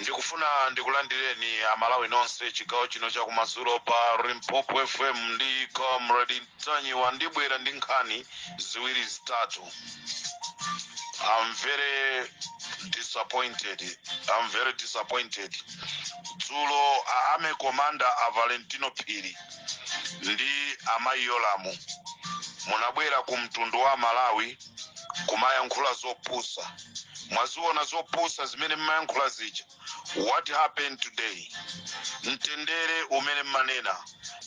ndikufuna ndikulandireni amalawi nonse chigawo chino chakumadzulo pa Limpopo fm ndi comrade Ntanyiwa ndibwera ndi nkhani ziwiri zitatu i'm very disappointed i'm very disappointed dzulo a army commander a valentino phiri ndi amayi yolamu munabwera ku mtundu wa malawi kumayankhula zopusa mwaziona zopusa zimene mmayankhula zija what happened today mtendere umene mmanena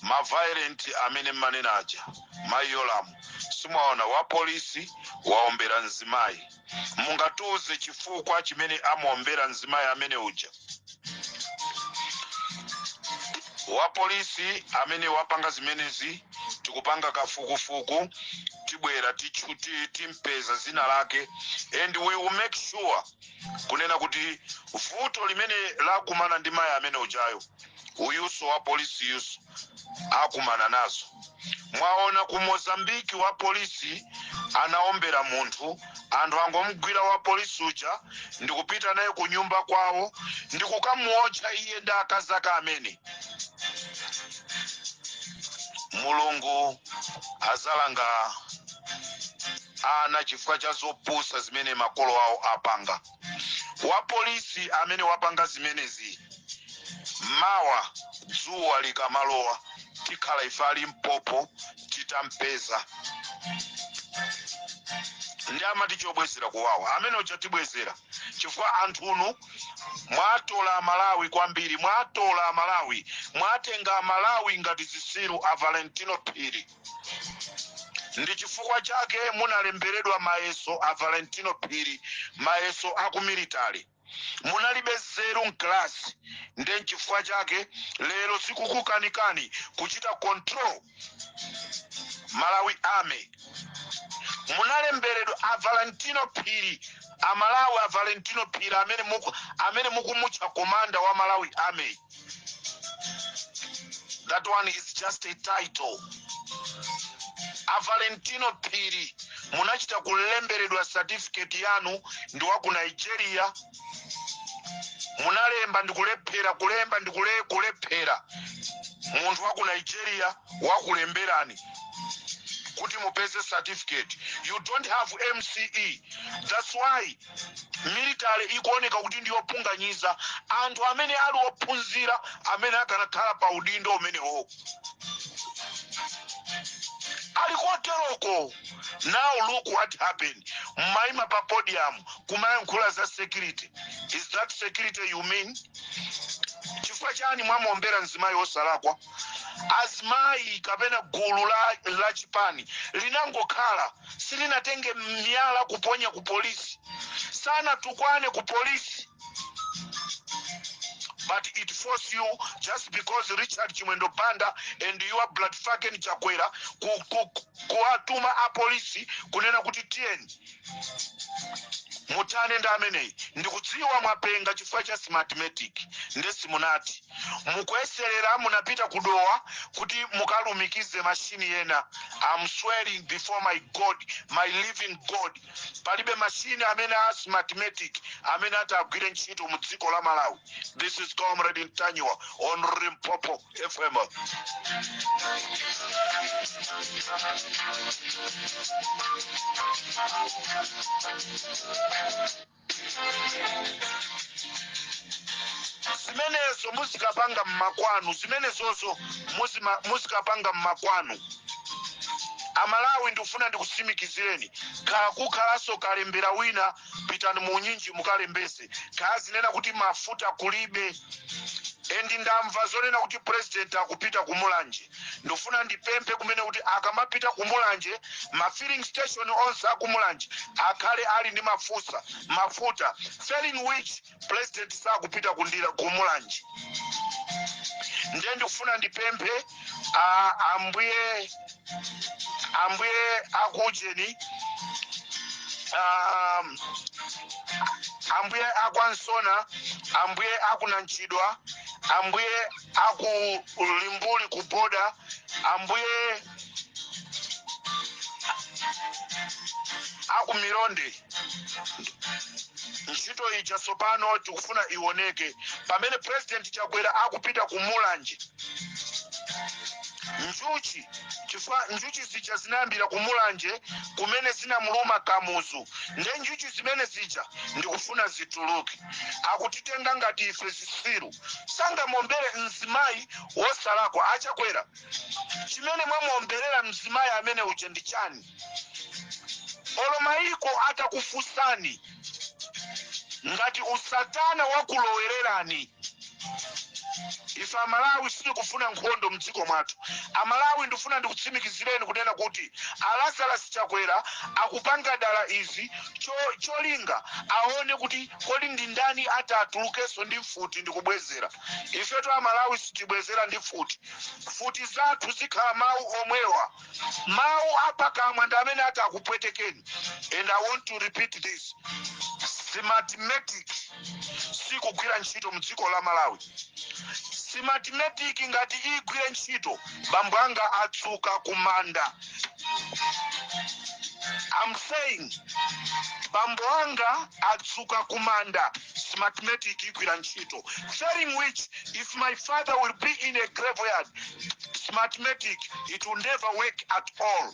ma violent amene mmanena aja mayi yolamu si mwaona wapolisi waombera mzimayi mungatiuze chifukwa chimene amuombera mzimayi amene uja wapolisi amene wapanga zimenezi tikupanga kafukufuku tibwera tichu- ti- timpeza zina lake and we will make sure kunena kuti vuto limene lakumana ndi mayi amene ujayo uyuso wapolisi uyuso akumana nazo mwaona ku mozambiki wa polisi anaombera munthu anthu angomgwira wa polisi uja ndikupita naye ku nyumba kwawo ndikukamuotcha iye ndi akazi ake amene mulungu azalanga ana chifukwa cha zopusa zimene makolo awo apanga wapolisi amene wapanga zimenezi mawa dzuwa likamalowa tikhala ife a Limpopo titampeza ndiye amati chobwezera kuwawa amene uja tibwezera chifukwa anthunu mwatola amalawi kwambiri mwatola amalawi mwatenga amalawi ngati zisiru a valentino phiri ndi chifukwa chake munalemberedwa mayeso a valentino phiri mayeso aku military munalibe nzeru mkalasi nde nchifukwa chake lero zikukukanikani kuchita control malawi army munalemberedwa a valentino phiri amalawi a valentino phiri amene muku- amene mukumutcha komanda wa malawi army that one is just a title a valentino phiri munachita kulemberedwa certificate yanu ndi wa ku nigeria munalemba ndikulephera kulemba ndikule kulephera munthu wa ku nigeria wakulemberani kuti mupeze certificate you don't have mce that's why military ikuoneka kuti ndi yopondereza anthu amene ali ophunzira amene akanakhala pa udindo umenewo ali koteroko now look what happened mmaima pa podium kumayankhula za security is that security you mean chifukwa chani mwamuombera mzimayi osalakwa azimayi kapena gulu la, la chipani linangokhala silinatenge miyala kuponya ku polisi sanatukwane ku polisi but it forces you just because richard chimwendo banda and your bloody fucking chakwera ku- ku- ku- kuwatuma apolisi kunena kuti tiyeni mutane ndi ameneyi ndikudziwa mwapenga chifukwa cha smartmatic nde si munati mukuyeserera munapita kudowa kuti mukalumikize mashini ena am swearing before my god my living god palibe mashini amene a smartmatic amene ati agwire ntchito mu dziko la malawi this is comrade ntanyiwa on limpopo fm zimenezo muzikapanga mmakwanu zimenezozo muzikapanga mmakwanu amalawi ndikufuna ndikusimikizireni kaya kukhalanso kalembera wina pitani muunyinji mukalembese kaya zinena kuti mafuta kulibe endi ndamva zonena kuti purezidenti akupita ku mulanje ndifuna ndipemphe kumene kuti akamapita ku mulanje ma filling station onse aku mulanje akhale ali ndi mafusa mafuta failing which president sakupita kundira ku mulanje ndiye ndikufuna ndipemphe a- ambuye ambuye akujeni um, ambuye akwansona ambuye akunanchidwa ambuye aku limbuli ku border ambuye aku mironde ntchito ija tsopano tikufuna ioneke pamene president chakwera akupita ku mulanje njuchi chifukwa njuchi zija zinayambira ku mulanje kumene zinamuluma kamuzu nde njuchi zimene zija ndikufuna zituluke akutitenga ngati ife zisiru sangamuombere mzimayi wosalakwa achakwera chimene mwamuomberera mzimayi amene uja ndi chani olo mayiko atakufunsani ngati usatana wakulowererani ife amalawi sitikufuna nkhondo mdziko mwathu amalawi ndifuna ndikutsimikizireni kunena kuti alazarasi chakwera akupanga dala izi cho, cholinga aone kuti kodi ndi ndani ati atulukenso ndi mfuti ndi kubwezera ifetu amalawi sitibwezera ndi mfuti mfuti zathu zikhala mawu omwewa mawu apakamwa ndi amene ati akupwetekeni and i want to repeat this smartmatic sikugwira ntchito mdziko la malawi simatimetiki ngati igwire ntchito bambo anga atsuka kumanda I'm saying bambo anga atsuka kumanda smartmatic igwira ntchito failing which if my father will be in a graveyard smartmatic it will never work at all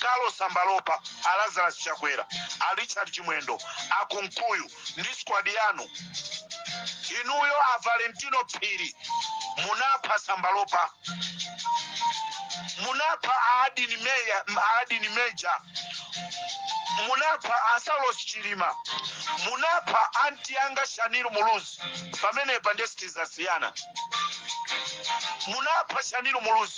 Ralph Sambalopa, a Lazarus Chakwera, a Richard Chimwendo, a Kunkuyu ndi squad yanu inuyo, a Valentino Phiri munapha Sambalopa, munapha a Adini Meja, munapha a Saulos Chilima, munapha anti anga Shaniru Muluzi, pamenepa nde sitizasiyana munapha Shaniru Muluzi.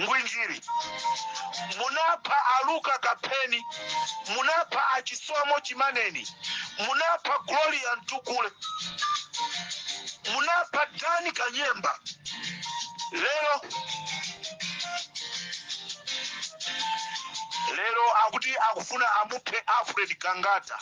ngwinjiri munapha aluka kapheni munapha achisomo chimaneni munapha gloria mtukule munapha dani kanyemba lero lero akuti akufuna amuphe alfred kangata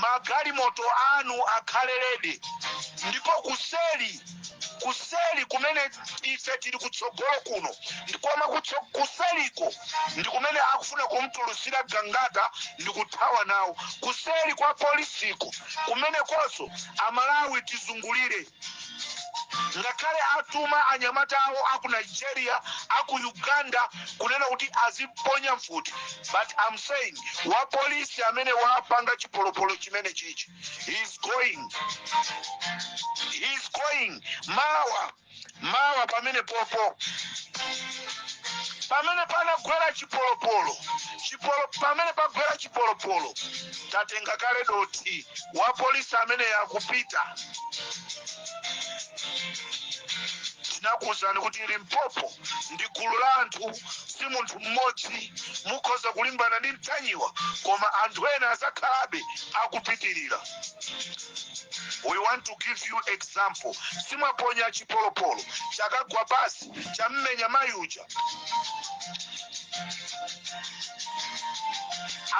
magalimoto anu akhale ready ndipo kuseli kuseli kumene ife tili kutsogolo kuno ndi koma kutso- kuseliko ndi kumene akufuna kumtulusira gangata ndi kuthawa nawo kuseli kwa polisiko kumenekonso amalawi tizungulire ngakhale atuma anyamata awo aku nigeria aku uganda kunena kuti azimponya mfuti but am saying wapolisi amene wapanga chipolopolo chimene chichi he's going he's going mawa mawa pamene popo pamene panagwera chipolopolo chipolo pamene pagwera chipolopolo tatenga kale dothi wapolisi ameneyo akupita tinakuwuzani kuti limpopo ndi gulu la anthu si munthu mmodzi mukhoza kulimbana ndi mtanyiwa koma anthu ena azakhalabe akupitirira we want to give you example simwaponya chipolopolo chakagwa pansi chammenya mayi uja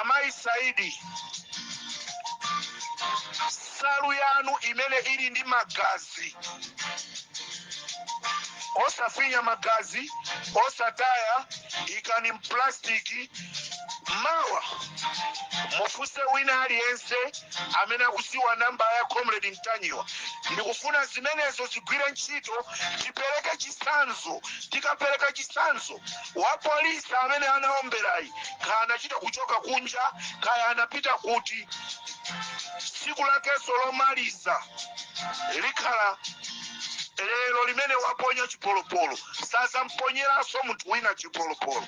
amayi saidi nsalu yanu imene ili ndi magazi osafinya magazi osataya ikani mplasitiki mawa mufunse wina aliyense amene akudziwa namba ya comrade mtanyiwa ndikufuna zimenezo zigwire ntchito tipereke chitsanzo tikapereka chitsanzo wapolisi amene anaomberayi kaya anachita kuchoka kunja kaya anapita kuti tsiku lakenso lomaliza likhala lero limene waponya chipolopolo sazamponyeranso munthu wina chipolopolo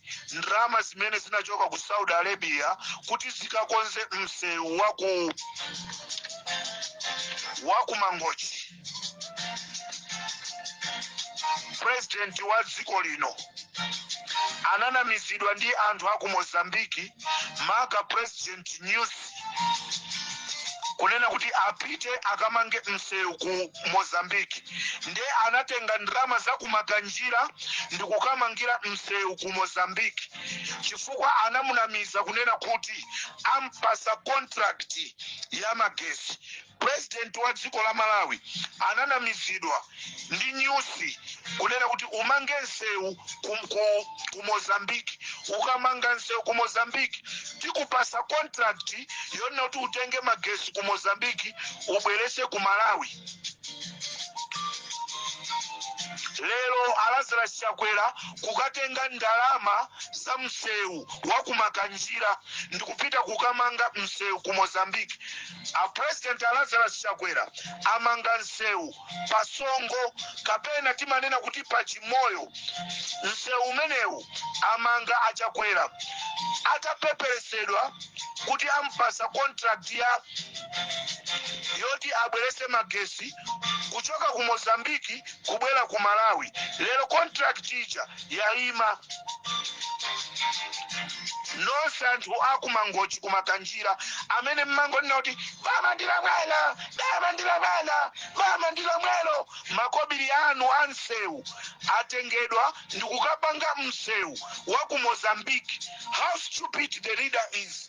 ndalama zimene zinachoka ku saudi arabia kuti zikakonze msewu wa ku mangochi purezidenti wa dziko lino ananamizidwa ndi anthu a ku mozambiki maka purezidenti nyusi kunena kuti apite akamange msewu ku mozambique nde anatenga ndalama za kumakanjira ndikukamangira msewu ku mozambique chifukwa anamunamiza kunena kuti ampasa contract ya magesi President wa dziko la Malawi ananamizidwa ndi nyusi kunena kuti umange nsewu ku, ku, ku Mozambique ukamanga nsewu ku Mozambique tikupasa contract yonena kuti utenge magesi ku Mozambique ubwerese ku Malawi lero a lazarus chakwera kukatenga ndalama za msewu wakumakanjira ndikupita kukamanga msewu ku mozambique a president a Lazarus Chakwera amanga msewu pa Songo kapena timanena kuti pa Chimoyo. Msewu umenewu amanga a Chakwera atapeperesedwa kuti ampasa contract ya yoti abwerese magesi kuchoka ku Mozambiki kubwera ku malawi lero contract ija yayima nonse anthu akumangochi kumakanjira amene mmangonena kuti bamandira mwana bamandira mwana bamandira mwelo makobiri anu a msewu atengedwa ndikukapanga msewu wa ku mozambique how stupid the leader is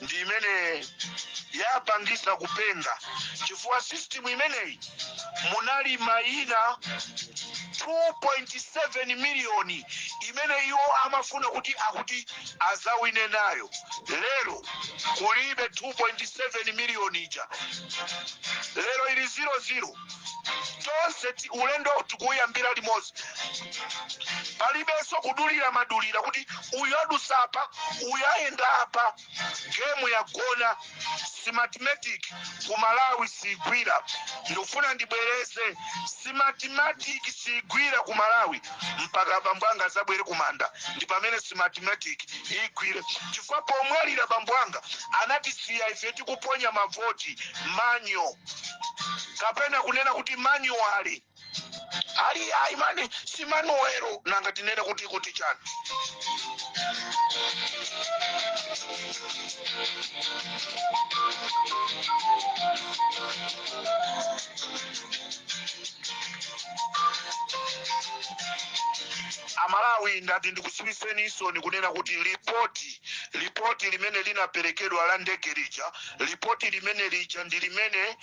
ndi imene yapangisa kupenga chifukwa system imeneyi munali mayina 2.7 miliyoni imene iwo amafuna kuti akuti azawine nayo lero kulibe 2.7 miliyoni ija lero ili 00 tonse ti- ulendo tikuyambira limodzi palibenso kudulira madulira kuti uyu adusa apa uyu ayenda apa gemu yagona systematic ku Malawi siigwira ndikufuna ndibwereze systematic siigwira ku Malawi mpaka bambo anga azabwere kumanda ndi pamene systematic igwire chifukwa pomwalira bambo anga anatisiya ife tikuponya mavoti manual kapena kunena kuti manually ali ayi manual si Manuwelo nanga tinena kuti kuti chani Amalawi ndati ndikusimikizireni isoni kunena kuti lipoti lipoti limene linaperekedwa la ndege lija lipoti limene lija ndi limene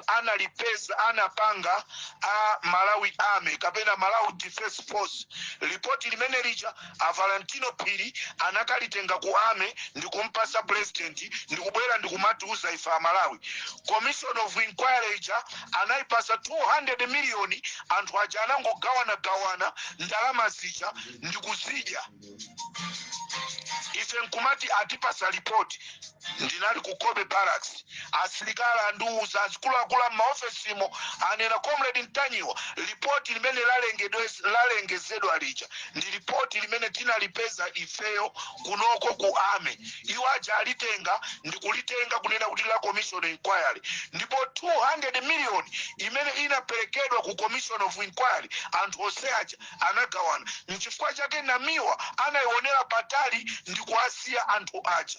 analipeza anapanga a Malawi Army kapena Malawi Defense Force lipoti limene lija a Valentino Phiri anakalitenga ku army ndikumpasa president ndikubwera ndikumatiuza ife Amalawi commission of inquiry ija anayipasa 200 miliyoni anthu aja anangogawanagawana ndalama zija ndikuzidya ife nkumati atipasa lipoti ndinali ku Cobbe Barracks asilikali andiuza azikuluakulu a m'maofesimo anena Comrade Ntanyiwa lipoti limene lalengezedwa lija ndi lipoti limene tinalipeza ifeyo kunoko ku army iwo aja alitenga ndikulitenga kunena kuti la commission inquiry ndipo 200 million imene inaperekedwa ku commission of inquiry anthu onse aja anagawana. Nchifukwa chake Namiwa anaionera patali ndi kuwasiya anthu aja.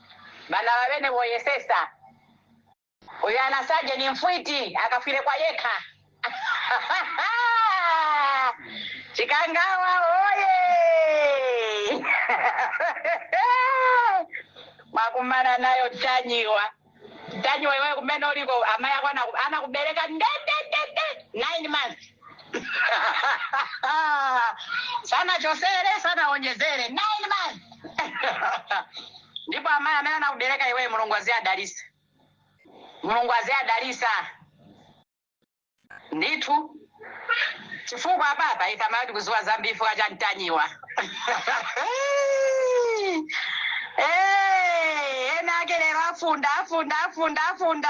bana babene boyesesa uyo anasaje ni mfwiti akafwile kwa yekha chikangawa oye mwakumana nayo tanyiwa tanyiwa iwe kumene uliko amai ako anaku- anakubereka ndendendende nine months sanachosere sanaonjezere nine months ndipo amayi amene anakubereka iweyo Mulungu aziwadalisa Mulungu aziwadalisa ndithu chifukwa apapa ife amayi tikuziwa zambiri chifukwa cha Ntanyiwa Eh, enaake lero afunda afunda afunda afunda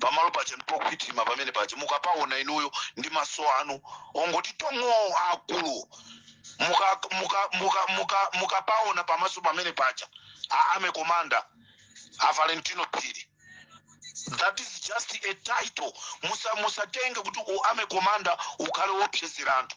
pamalo paja ndipokhwitima pamene paja mukapaona inuyo ndi maso anu ongoti tong'o akulu mukapaona pamaso pamene paja a army komanda a valentino phiri that is just a title musatenge kuti u army komanda ukhale wopsezera anthu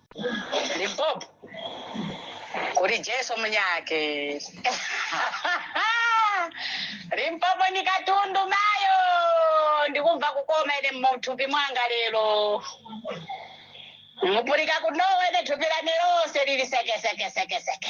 Limpopo kuli Jesu mnyake Limpopo ni katundu mayo ndikumva kukoma ine muthupi mwanga lero mupulika kunowa ine thupi lane lose lili sekesekesekeseke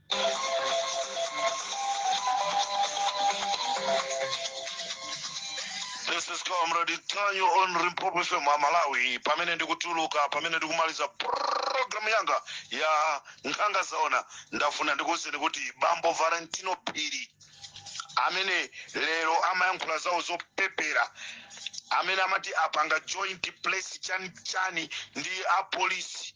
This is Comrade Ntanyiwa on Limpopo FM a Malawi. Pamene ndikutuluka, pamene ndikumaliza program yanga ya nkhanga zaona, ndafuna ndikuwuzeni kuti Bambo Valentino Phiri amene lero amayankhula zawo zopepera amene amati apanga joint press chani chani ndi apolisi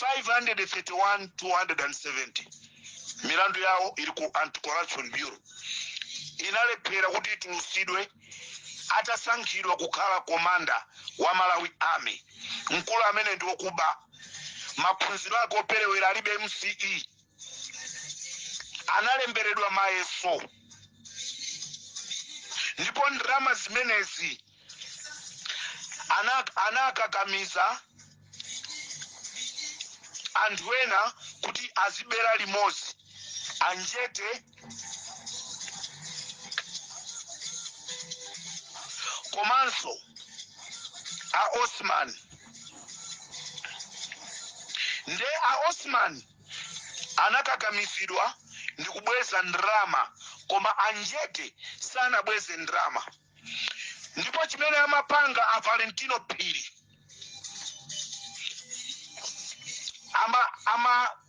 531 270 milandu yawo iri ku anti-corruption bureau inalephera kuti itulusidwe atasankhidwa kukhala komanda wa malawi army mkulu amene ndi okuba maphunziro ake operewera alibe msce analemberedwa mayeso ndipo ndalama zimenezi anakakamiza anthu ena kuti azibera limodzi a njete komanso a osman nde a osman anakakamizidwa ndi kubweza ndrama koma a njete sanabweze ndrama ndipo chimene amapanga a valentino phiri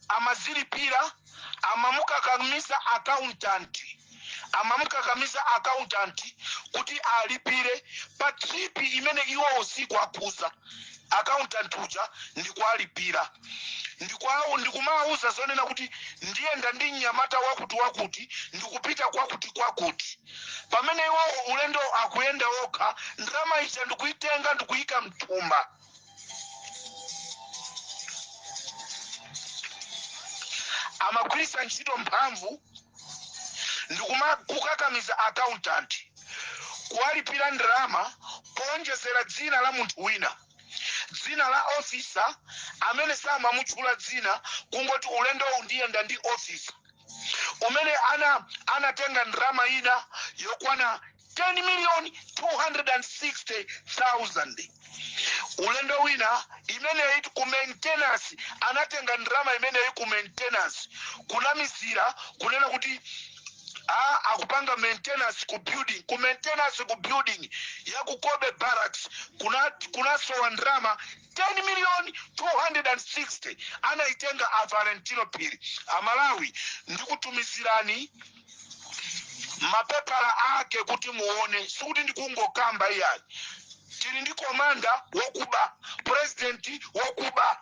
amazilipira amamukakamiza accountant amamukakamiza accountant kuti alipire pa trip imene iwo usiku akuuza accountant uja ndikuwalipira ndikumawuza zoona kuti ndiyenda ndi mnyamata wakuti wakuti ndikupita kwakuti kwakuti pamene iwo ulendo akuyenda okha ndalama ija ndikuyitenga ndikuyika mthumba amagwiritsa ntchito mphamvu ndikumukakamiza accountant kuwalipira ndalama kuonjezera dzina la munthu wina dzina la officer amene samamutchula dzina kungoti ulendowu ndiyenda ndi officer umene ana anatenga ndalama ina yokwana 10 million 260,000 ulendo wina imeneyi ku maintenance anatenga ndalama imeneyi ku maintenance kunamizira kunena kuti a akupanga maintenance ku building ku maintenance ku building ya ku Kobe Barracks kuna kunasowa ndalama 10 million 260 anaitenga a Valentino Phiri amalawi ndikutumizirani mapepala ake kuti muone sikuti ndikungokamba iyayi tili ndi komanda wokuba purezidenti wokuba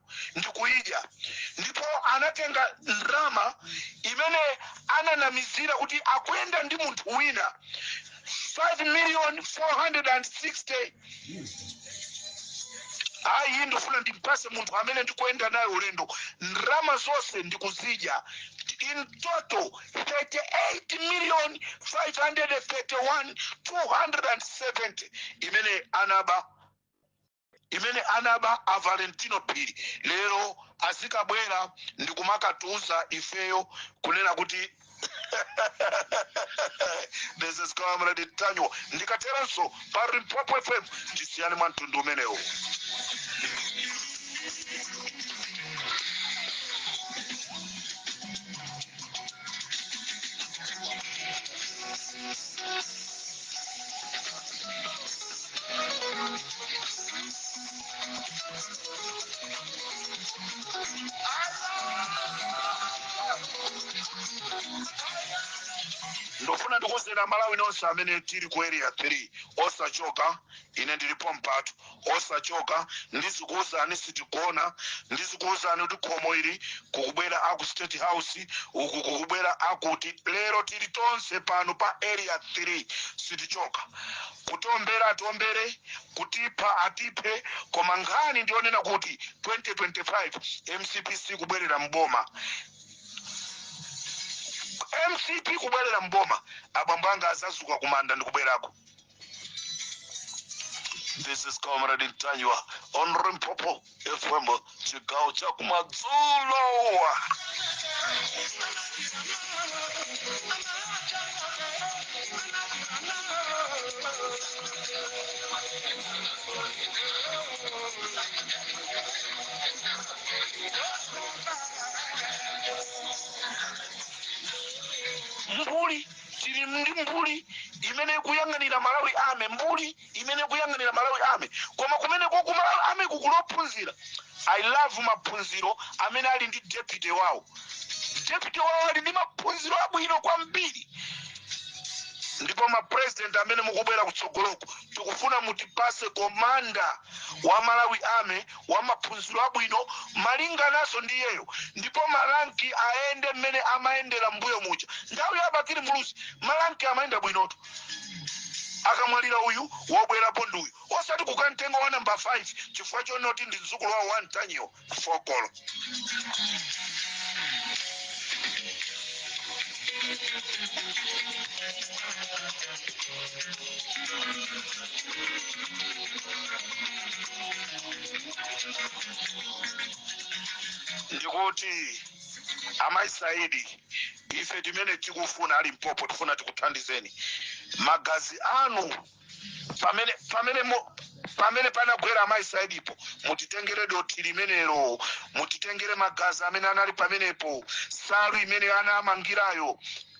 ndikuidya ndipo anatenga ndalama imene ananamizira kuti akuyenda ndi munthu wina 5 million 460 ayi iyi ndifuna ndimpase munthu amene ndikuyenda naye ulendo ndalama zonse ndikuzidya in total 38 million 531 270 imene anaba imene anaba a valentino phiri lero azikabwera ndi kumakatiuza ifeyo kunena kuti this is comrade Ntanyiwa ndikateranso pa limpopo fm tisiyane mwa mtundu umenewu ndofuna ndikuuzeni amalawi nonse amene tili ku area 3 osachoka ine ndilipo mpatu osachoka ndizikuwuzani sitigona ndizikuwuzani kuti khomo ili kukubwera aku state house uku kukubwera akuti lero tili tonse pano pa area 3 sitichoka kutombera atombere kutipha atiphe koma nkhani ndiyonena kuti 2025 mcp sikubwerera mboma mcp kubwerera mboma abambo anga azazuka kumanda ndikubwerako This is Comrade Ntanyiwa on Limpopo FM chigawo cha kumadzulo. Mbuli tili ndi mbuli imene ikuyang'anira malawi army mbuli imene ikuyang'anira malawi army koma kumeneko ku malawi army kuli ophunzira i love maphunziro amene ali ndi deputy wawo deputy wawo ali ndi maphunziro abwino kwambiri ndipo mapresident amene mukubwera kutsogoloko tikufuna mutipase komanda wa malawi army wa maphunziro abwino malinganaso ndi iyeyo ndipo maranki ayende mmene amayendera mbuyo muja nthawi ya bakili muluzi maranki amayenda bwinotu akamwalira uyu wobwerapo ndi uyu osati kukamtenga wa namba 5 chifukwa chonoti ndi mdzukulu wawo wa mtanyiwo fokolo ndikuti amayi saidi ife timene tikufuna ali mpopo tifuna tikuthandizeni magazi anu pamene pamene mo- pamene panagwera amayi saidipo mutitengere dothi limenelo mutitengere magazi amene anali pamenepo nsalu imene anamangirayo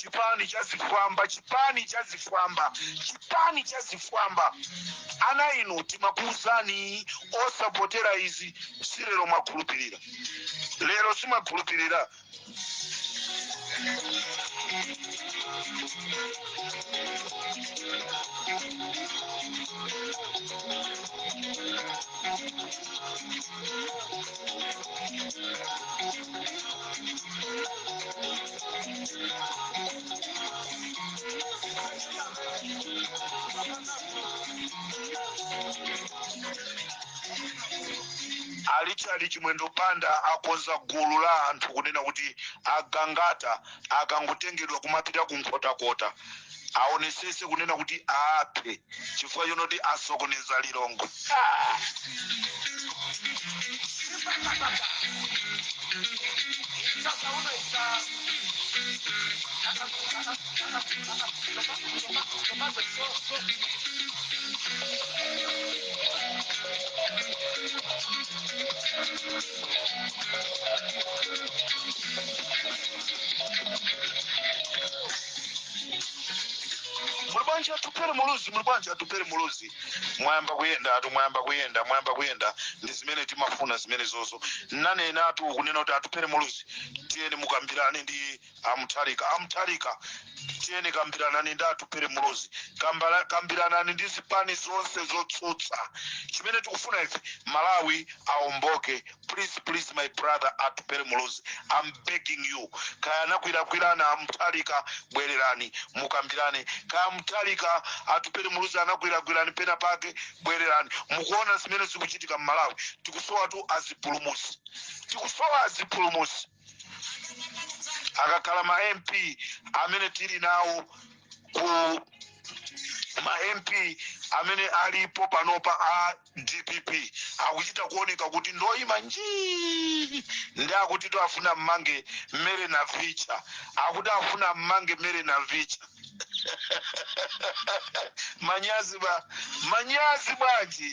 chipani cha zifwamba chipani cha zifwamba chipani cha zifwamba ana inu timakuuzani osapotera izi si lero mwakhulupirira lero simumakhulupirira a richard chimwendo banda akonza gulu la anthu kunena kuti agangata akangotengedwa kumapita ku nkhotakota aonetsetse kunena kuti aaphe chifukwa chonoti asokoneza lilongwe muli bwanji atupere muluzi muli bwanji atupere muluzi mwayamba kuyendatu mwayamba kuyenda mwayamba kuyenda ndi zimene timafuna zimenezozo ndinanenatu kunena kuti atupere muluzi tiyeni mukambiranedi amutharika amutharika tiyeni kambiranani ndi atupele muluzi Kambala- kambiranani ndi zipani zonse zotsutsa chimene tikufuna ife malawi aomboke please please my brother atupele muluzi am begging you kaya anakulakwirani amutharika bwererani mukambirane kaya amutharika atupele muluzi anakulakwirani pena pake bwererani mukuona zimene zikuchitika mmalawi tikusowa tu azipulumusi tikusowa azipulumusi akakhala ma mp amene tili nawo ku ma mp amene alipo panopa a dpp akuchita kuoneka kuti ndoyima njii ndi akuti to afuna mmange mmere na vicha akuti afuna mmange mmere na vicha manyazi ba manyazi bwanji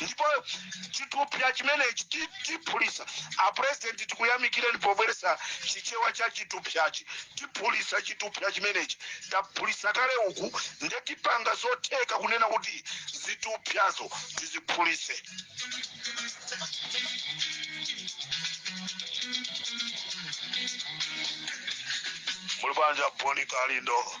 ndipo chitupya chimenechi ti- tiphulisa apurezidenti tikuyamikireni pobweresa chichewa cha chitupyachi tiphulisa chitupya chimenechi taphulisa kale uku nde tipanga zotheka kunena kuti zitupyazo tiziphulise muli bwanji bon kalindo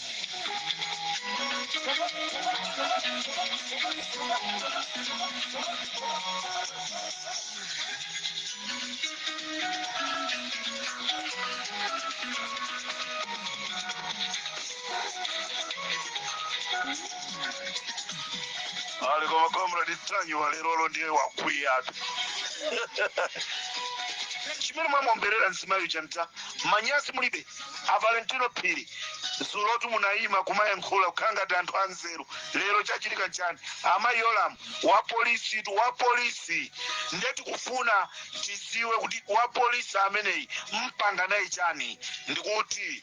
ali koma comrade tanyi walero ndiye wakwiyatu chimene mwamomberera mzimayi uja mta manyazi mulibe a valentino phiri dzulotu munayima kumayankhula kukhala ngati anthu anzeru lero chachitika nchani amayi yolamu wa polisi tu wa polisi nde tikufuna tiziwe kuti wa polisi ameneyi mpanga naye chani ndikuti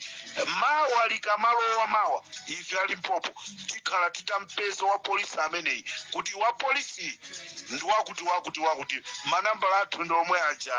mawa likamalowa mawa ife alimpopo tikhala titampeza wa polisi ameneyi kuti wa polisi ndi wakuti wakuti wakuti manambala athu ndi omwe aja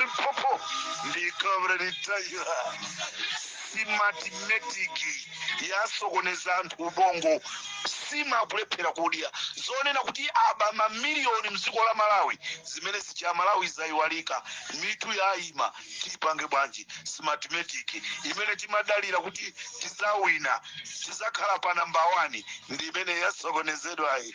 ripopo ndi comrade Ntanyiwa simatimetiki yasokoneza anthu ubongo sima akulephera kudya zonena kuti aba mamiliyoni mdziko la malawi zimene zija amalawi zayiwalika mitu yayima tipange bwanji simatimetiki imene timadalira kuti tizawina tizakhala pa namba 1 ndi imene yasokonezedwayi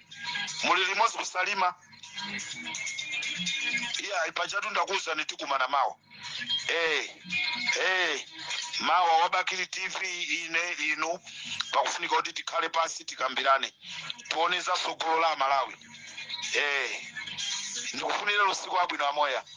muli limodzi ku Salima iyayi pajatu ndakuwuzani tikumana mawa eh eh mawa wa Bakili TV ine ndi inu pakufunika kuti tikhale pansi tikambirane tione za tsogolo la amalawi eh ndikufunireni usiku wabwino amoya